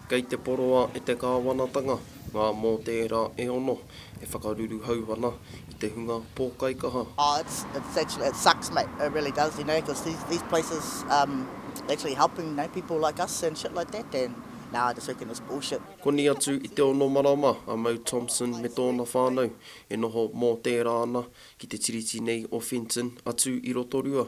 Kei te poroa e te kāwanatanga ngā mōtēra e ono e whakaruruhau ana i te hunga pōkaikaha. Oh it's it's actually it sucks mate it really does you know cos these these places um actually helping you know people like us and shit like that and now I just reckon it's bullshit. Koni atu i te ono marama a Mau Thompson me tōna whānau e noho mōtēra ana ki te tiriti nei o Fenton atu i Rotorua.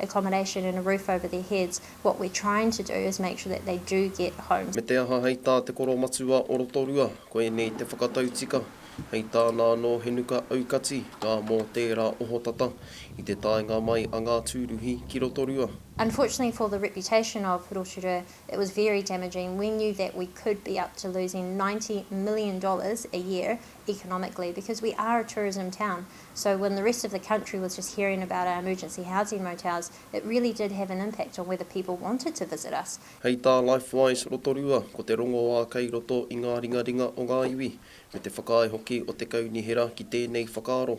accommodation and a roof over their heads, what we're trying to do is make sure that they do get homes. Me te aha hei tā te Koromatua o Rotorua, ko ēnei te whakatautika, hei tāna anō he nuka aukati ngā mō tērā ohotata i te taenga mai a ngā tūruhi ki Rotorua. Unfortunately for the reputation of Rotorua, it was very damaging, we knew that we could be up to losing ninety million dollars a year economically because we are a tourism town so when the rest of the country was just hearing about our emergency housing motels it really did have an impact on whether people wanted to visit us. Hei tā Lifewise Rotorua, ko te rongoā kei roto i ngā ringaringa o ngā iwi, me te whakaae hoki o te kaunihera ki tēnei whakaaro.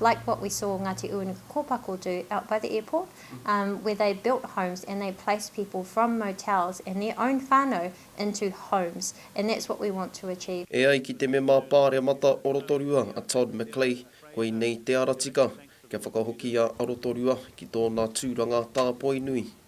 like what we saw Ngati Uenuku Kopako do out by the airport um where they built homes and they placed people from motels and their own whanau into homes and that's what we want to achieve. E ai ki te Mema Pāremata o Rotorua a Todd McClay, koinei te ara tika kia whakahokia a Rotorua ki tōna tūranga tāpoi nui.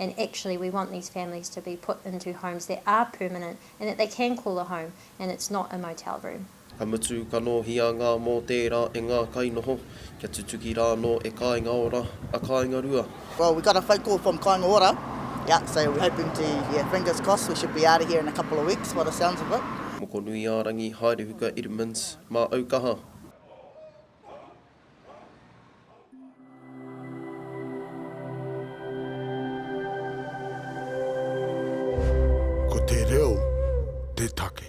and actually we want these families to be put into homes that are permanent and that they can call a home and it's not a motel room. Ka mutu, ka nōhia ngā mōtē rā e ngā kainoho, kia tutuki rā anō e Kāinga Ora, a Kāinga Rua. Well we got a phone call from Kāinga Ora, yeah, so we're hoping to, yeah, fingers crossed we should be out of here in a couple of weeks by the sounds of it. Mokonuiārangi, Haerehuka Edmunds, Mā Aukaha. Ko te reo te take.